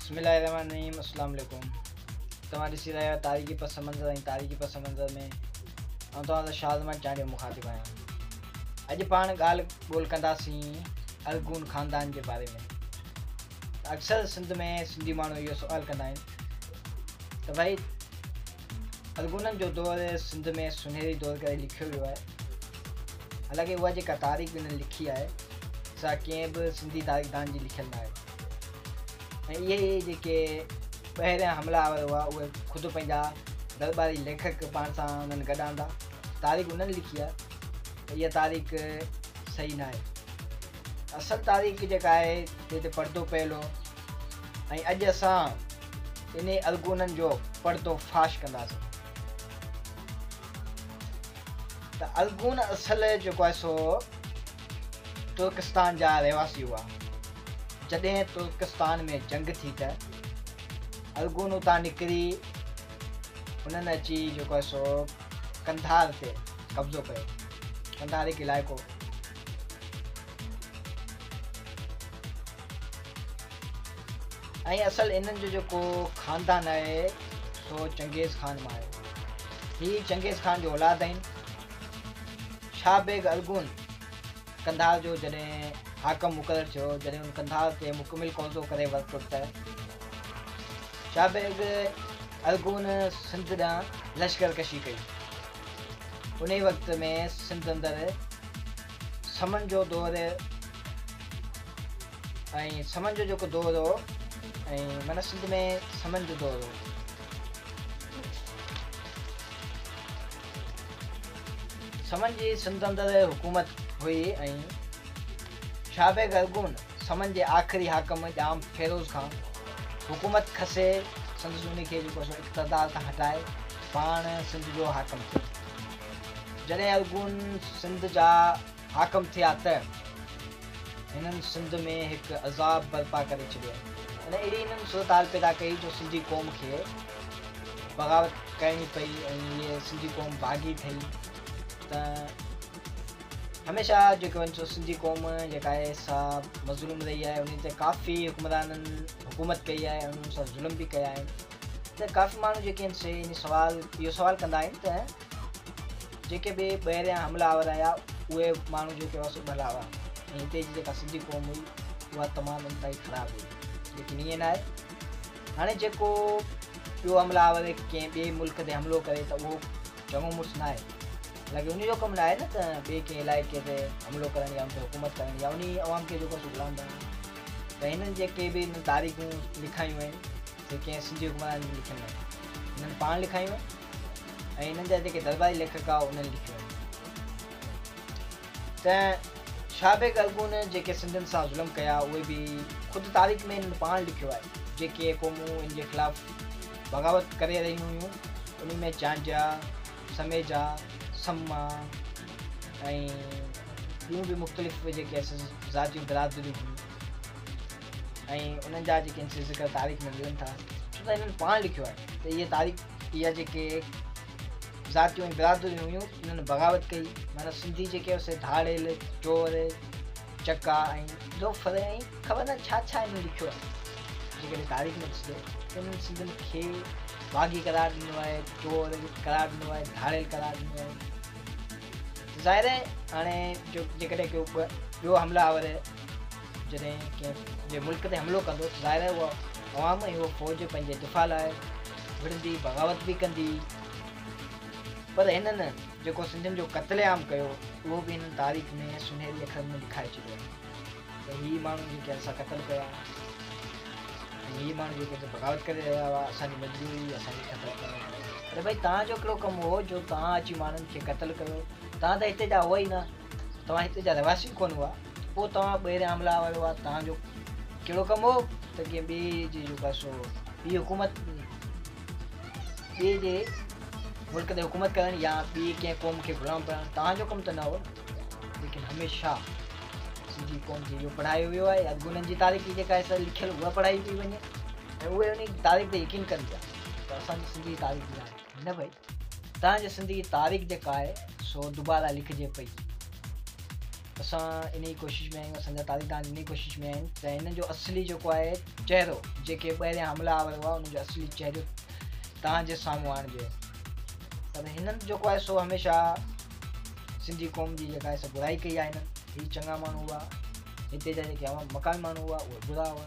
بسم الله الرحمن الرحيم السلام عليڪم توهان ڏسي رهيا آهيو تاريخي پس منظر ۽ تاريخي پس منظر ۾ آئون توهان سان شازمان چانڊيو مخاطب آهيان اڄ پاڻ ڳالهه ٻولهه ڪنداسين ارغون خاندان جي باري ۾ اڪثر سنڌ ۾ سنڌي ماڻهو اهو سوال ڪندا آهن ته ڀائي ارغونن جو دور سنڌ ۾ سنهري دور ڪري لکيو ويو آهي. حالانڪه اها جيڪا تاريخ هنن لکي آهي سا ڪنهن به سنڌي تاريخدان جي لکيل ناهي ۽ اهي ئي جيڪي ٻاهريان حمله آور هئا اهي خود پنهنجا درباري ليکڪ پاڻ سان هنن گڏ آندا تاريخ هنن لکي آهي اها تاريخ صحيح ناهي اصل تاريخ جيڪا آهي جنهن تي پردو پيل هو ۽ اڄ اسان انهي الڳونن جو پردو فاش ڪنداسين ته الڳون اصل جيڪو آهي سو ترڪستان جا رهواسي هئا جڏهن ترڪستان ۾ جنگ ٿي ته الڳون اتان نڪري انهن اچي جيڪو آهي سو قنڌار تي قبضو ڪيو قنڌار هڪ علائقو ۽ اصل انهن جو جيڪو خاندان آهي سو چنگيز خان مان آهي. هي چنگيز خان جو اولاد آهن. شاهه بيگ ارغون قنڌار جو جڏهن حاڪم مقرر ٿيو، جڏهن هن قنڌار تي مڪمل قبضو ڪري ورتو ته شاهه بيگ ارغون سنڌ ڏانهن لشڪر ڪشي ڪئي. انهيء وقت ۾ سنڌ اندر سمن جو دور ۽ سمن جو جيڪو دور هو ۽ معنيٰ سنڌ ۾ سمن جو دور هو. سمن جي سنڌ اندر حڪومت هئي ۽ شاهه بيگ ارغون سمن جي آخري حاڪم ڄام فيروز کان حڪومت کسي سندس ان کي جيڪو سو اقتدار تان هٽائي پاڻ سنڌ جو حاڪم ٿيو. جڏهن ارغون سنڌ جا حاڪم ٿيا ته هنن سنڌ ۾ هڪ عذاب برپا ڪري ڇڏيو يعني اهڙي هنن صورتحال پيدا ڪئي جو سنڌي قوم کي بغاوت ڪرڻي پئي ۽ هيء سنڌي قوم باغي ٺهي ته هميشه جيڪي وڃ سو سنڌي قوم جيڪا آهي سا مظلوم رهي آهي انهي تي ڪافي حڪمرانن حڪومت ڪئي آهي ۽ انهن سان ظلم به ڪيا آهن ته ڪافي ماڻهو جيڪي آهن سي ان سوال اهو سوال ڪندا آهن ته جيڪي به ٻاهريان حملا آور آيا اهي ماڻهو جيڪي هئا سو ڀلا هئا ۽ هتي جي جيڪا سنڌي قوم هئي اها تمام انتهائي خراب هئي ليڪن ائين ناهي هاڻي جيڪو ٻيو حملا آور ڪنهن ٻئي ملڪ تي حملو ڪري ته اهو چڱو مڙس نه آهي لڳي ان جو ڪم نه آهي نه ته ٻئي ڪنهن علائقي تي حملو ڪرڻ يا ان تي حڪومت ڪرڻ يا ان عوام کي جيڪو غلام بڻائڻ ته هنن جيڪي به هنن تاريخون لکايون آهن جيڪي ائين سنڌي حڪمرانن جون لکيل ناهن. هنن پاڻ لکايون ۽ هنن جا جيڪي درباري ليکڪ هئا انهن لکيون آهن. ته شاهه بيگ ارغون جيڪي سنڌين سان ظلم ڪيا اهي به خود تاريخ ۾ هنن پاڻ لکيو آهي. جيڪي قومون هن جي خلاف بغاوت ڪري رهيون هيون انهن ۾ چانڊيا، سميجا، سمما ۽ ٻيون به مختلف جيڪي ذاتيون برادريون هيون. ۽ انهن جا جيڪي انسي ذڪر تاريخ ۾ ملن ٿا ڇو ته انهن پاڻ لکيو آهي ته اهي تاريخ اها جيڪي ذاتيون ۽ برادريون هيون انهن بغاوت ڪئي معنيٰ سنڌي جيڪي هيو سي ڌاڙيل چور چڪا ۽ لوفر ۽ خبر نه ڇا ڇا انهن لکيو آهي جيڪڏهن تاريخ ۾ ڏسجو ته انهن سنڌين کي باغي قرار ڏنو آهي چور قرار ڏنو آهي ڌاڙيل قرار ڏنو آهي ظاهر آهي هاڻي جو جيڪڏهن ڪو ٻيو حمله آور جڏهن ڪنهن جي ملڪ تي حملو ڪندو ته ظاهر آهي اها عوام ۽ اها فوج پنهنجي دفاع لاء وڙهندي بغاوت به ڪندي پر هنن جيڪو سنڌين جو قتل عام ڪيو اهو به هنن تاريخ ۾ سنهري اکرن ۾ لکائي ڇڏيو آهي ته هي ماڻهو جيڪي اسان قتل ڪيا ۽ هي ماڻهو جيڪي هتي بغاوت ڪري رهيا هئا اسان جي مجبوري اسان کي قتل ڪرڻو پيو اري ڀائي تان جو ڪهڙو ڪم هو جو تان اچي ماڻهن کي قتل ڪيو تان ته هتي جا هئا ئي نه توهان هتي جا رهواسي ڪونه هئا، پوء توهان ٻيري آملا ويو ها توهان جو ڪهڙو ڪم هو ته ڪنهن ٻئي جي جيڪو آهي سو ٻي حڪومت ٻئي جي ملڪ تي حڪومت ڪرڻ يا ٻي ڪنهن قوم کي غلام بڻائڻ توهان جو ڪم ته نه هو نه ليڪن هميشه سنڌي قوم کي اهو پڙهايو ويو آهي اڳ انهن جي تاريخ جي جيڪا آهي لکيل اها پڙهائي پئي وڃي ۽ اهي انهي تاريخ تي يقين ڪن پيا ته اسان جي سنڌي تاريخ جي آهي نه ڀئي تنهن جي سندي تاريخ جيڪا آهي سو دوباره لکجي پئي اسان انهي ڪوشش ۾ آهيون سنڌ تاريخدان انهي ڪوشش ۾ آهن ته هن جو اصلي جيڪو آهي چهرو جيڪي ٻاهريان حملا آور هئا ان جو اصلي چهرو تنهن جي سامهون آڻجي پر هنن جيڪو آهي سو هميشه سنڌي قوم جي جيڪا آهي سو برائي ڪئي آهي هنن هي چڱا ماڻهو هئا هتي جا جيڪي مقامي ماڻهو هئا اهي برا هئا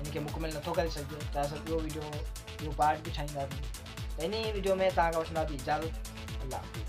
ان کي مڪمل نٿو ڪري سگهجي ته اسان ٻيو ويڊيو ٻيو پارٽ به ٺاهينداسين ته انهي ويڊيو ۾ توهان کان وٺنداسين اجازت الله حافظ